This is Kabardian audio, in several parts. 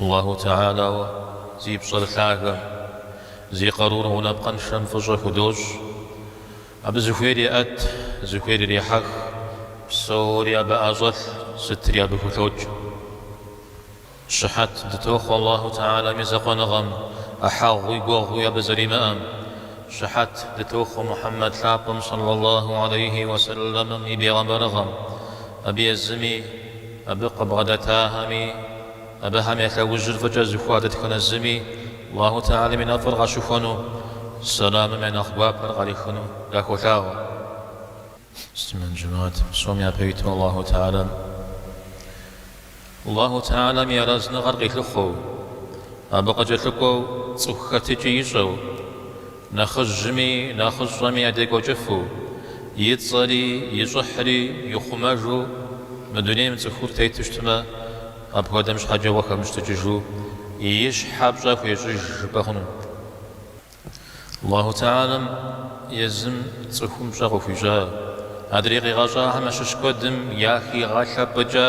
Аллаху Тыгьалэу зи пщӏэр лъагэм, зи къарур гъунапкъэншэм фӏыщӏэ худощӏ. Абы зыхуейр еӏэт, зыхуейр ирехьэх, псори абы ӏэщӏэлъ, сытри абы хулъокӏ. Щыхьэт дытохъуэ Аллаху Тыгьалэм и закъуэныгъэм, ӏыхьэгъуи гуэгъуи абы зэримыӏэм. Щыхьэт дытохъуэ Мухьэммэд лъапӏэм сэллаллаху алейхи уэ сэллэмым и бегъымбарыгъэм, абы езыми, Абы къыбгъэдэтахэми, абыхэм я лъэужьыр фӏыкӏэ зыхуа дэтхэнэ зыми Аллаху тыгьалэм и нэфӏыр къащыхуэну, сэлэмым я нэхъ гуапэр къарихыну дахуолъаӏуэ. Аллаху тыгьалэм и арэзыныгъэр къилъыхъуэу, абы къыкӏэлъыкӏуэу цӏыху хэтыкӏи ищӏэу. Нэхъыжьми нэхъыщӏэми ядекӏуэкӏыфу, и цӏэри и щӏыхьри ихъумэжу мы дунейм цӏыхур тету щытмэ, апхуэдэм щхьэкӏэ ухэмыщтыкӏыжу и щхьэ пщӏэ хуещӏыж жыпӏэ хъуну? Аллаху тыгьалэм езым цӏыхум пщӏэ къыхуищӏа, адрей къигъэщӏахэм ящыщ куэдым яхигъэлъэпӏыкӏа?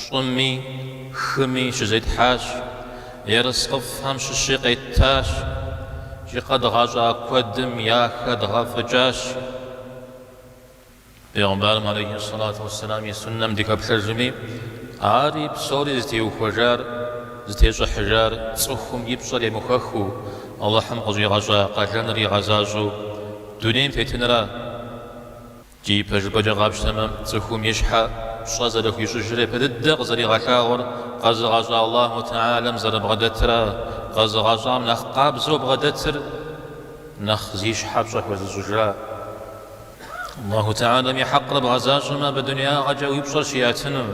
Щӏыми хыми щызетхьащ, ерыскъыфӏхэм щыщи къеттащ, икӏи къэдгъэщӏа куэдым яхэдгъэфӏыкӏащ. Пегъымбарым алейхи ссалату уэсселам и суннэм дыхэплъэжми, ари псори зытеухуэжар, зытещӏыхьыжар цӏыхум и пщӏэр емыхуэхыу, Алыхьым къыщӏигъэщӏа къалэныр игъэзащӏэу дунейм тетынра? Икӏи пэжыпӏэкӏэ къапщтэмэ, цӏыхум и щхьэ пщӏэ зэрыхуищӏыжыр япэ дыдэ къызэригъэлъагъуэр къэзыгъэщӏа Аллахьу тыгьалэм зэрыбгъэдэтра? Къэзыгъэщӏам нэхъ къабзэу бгъэдэтыр нэхъ зи щхьэ пщӏэ хуэзыщӏыжа? Аллахьу тыгьалэм и хьэкъыр бгъэзащӏэмэ, абы дунягъэкӏэ уи пщӏэр щиӏэтыну,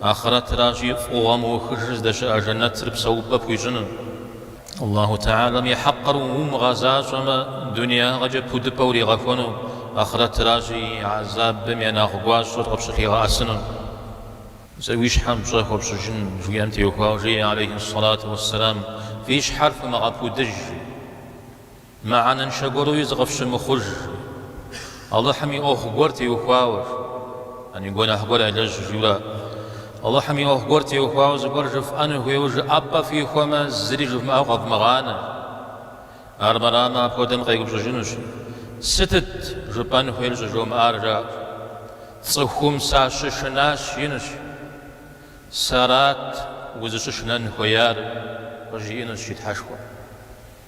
ахърэтращи, фӏыгъуэ мыухыжыр здэщыӏэ жэнэтыр псэупӏэ пхуищӏыну. Аллаху Тыгьалэм и хьэкъыр умыгъэзащӏэмэ, дунеягъэкӏэ пудыпӏэ уригъэхуэну, ахърэтращи, гӏэзабым я нэхъ гуащӏэр къыпщылъигъэӏэсыну. Зэ уи щхьэм пщӏэ хуэпщӏыжын, жыхуиӏэм теухуауэ жеӏэ алейхьи сэлату уэсэлам, Фи щхьэр фымыгъэпудыж! жи. Мыхьэнэншэ гуэруи зыкъыфщымыхъуж. Алыхьым и ӏуэху гуэр теухуауэ. Ани гуэныхь гуэр ялэжь жиуэ. Алыхьым и ӏуэху гуэр теухуауэ зыгуэр жыфӏэн хуейуэ жыӏэпӏэ фихуэмэ, зыри жывмыӏэу къэвмыгъанэ. Армырамэ, апхуэдэм къеупщӏыжынущ, Сытыт жыпӏэн хуейр щӏыжомыӏар, жаӏэу. Цӏыхум сащышынащ, жиӏэнущ. Сэрат узыщышынэн хуеяр, къыжиӏэнущ и Тхьэшхуэм.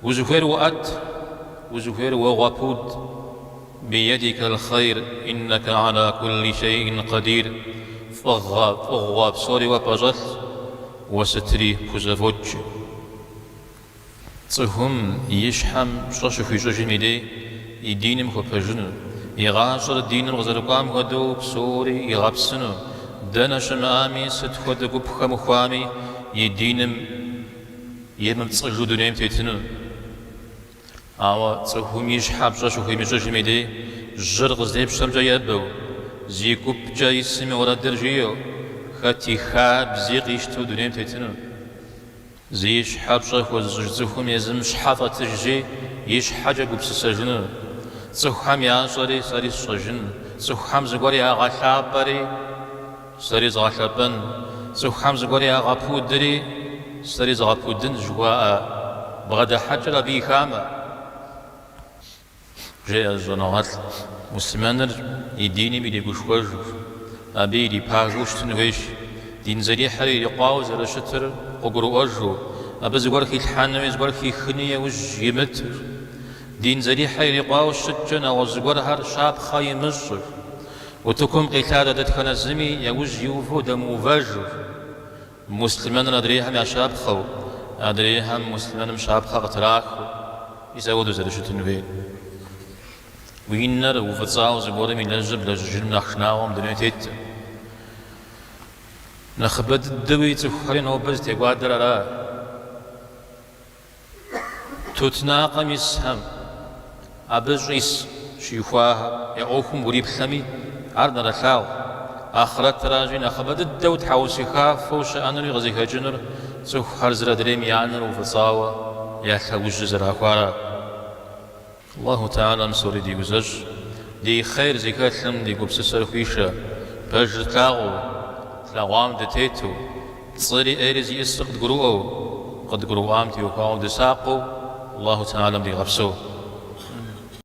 Узыхуейр уоӏэт, узыхуейр уогъэпуд, Биедикал хъейр иннака гьала кулли шейин къэдир, Фӏыгъэ, фӏыгъуэ псори уэ пӏэщӏэлъ, уэ сытри пхузэфӏокӏ. Цӏыхум и щхьэм пщӏэ щыхуищӏыжым и дей и диным хуэпэжыну, и гъащӏэр диным къызэрыкӏуам хуэдэу псори игъэпсыну, дэнэ щымыӏами, сыт хуэдэ гуп хэмыхуами и диным, емыпцӏыжу дунейм тетыну. Ауэ цӏыхум и щхьэ пщӏэ щыхуимыщӏыжым и дей, жьыр къыздепщэмкӏэ ебэу, зи гупкӏэ исым и уэрэдыр жиӏэу, хэт и хабзи къищтэу дунейм тетыну. Зи щхьэ пщӏэ хуэзыщӏыж цӏыхум езым щхьэ фӏэтыжри, и щхьэкӏэ гупсысэжыну. Цӏыхухэм ящӏэри сэри сщӏэжын, цӏыхухэм зыгуэр ягъэлъапӏэри. Сэри згъэлъэпӏэн, цӏыхухэм зыгуэр ягъэпудри, сэри згъэпудын жыхуаӏэ бгъэдыхьэкӏэр абы и хамэ, жеӏэ зы щӏэныгъэлӏ муслъымэныр и диным иригушхуэжу, абы ирипагэу щытын хуейщ, дин зэрихьэр ирикъуауэ зэрыщытыр къыгурыӏуэжу, абы зыгуэр хилъхьэнуи зыгуэр хихыни яужь имытыр, дин зэрихьэр ирикъуауэ щыткӏэ нэгъуэщӏ зыгуэрхэр щапхъэ имыщӏыр. Утыкум къилъадэ дэтхэнэ зыми яужь иувэу дэмыувэжу, муслъымэныр адрейхэм я щапхъэу, адрейхэм муслъымэным щапхъэ къытрахыу ис апхуэдэу зэрыщытын хуейр. Уи нэр уфӏыцӏауэ зыгуэрым илэжьыр блэжьыжыным нэхъ шынагъуэ мы дуней тетым. Нэхъыбэ дыдэуи цӏыхухэри нобэ зытекӏуадэр ара? Тутнакъэм исхэм, абы щӏис щихуахэр я ӏуэхум уриплъэми, ар нэрылъагъу. Ахърэтыращи, нэхъыбэ дыдэу тхьэусыхафэу щыӏэнури къызыхэкӏынур цӏыхухэр зыр адрейм я нэр уфӏыцӏауэ я лъэужьыр зэрахуара. Аллаху Теалэм псори диузэщӏ, ди хъер зыхэлъым ди гупсысэр хуишэ, пэжыр тлъагъуу, тлъэгъуам дытету, пцӏыри ӏейри зиӏысыр къыдгурыӏуэу, къыдгурыӏуам теухуауэ дысакъыу Аллаху Теалэм дигъэпсэу.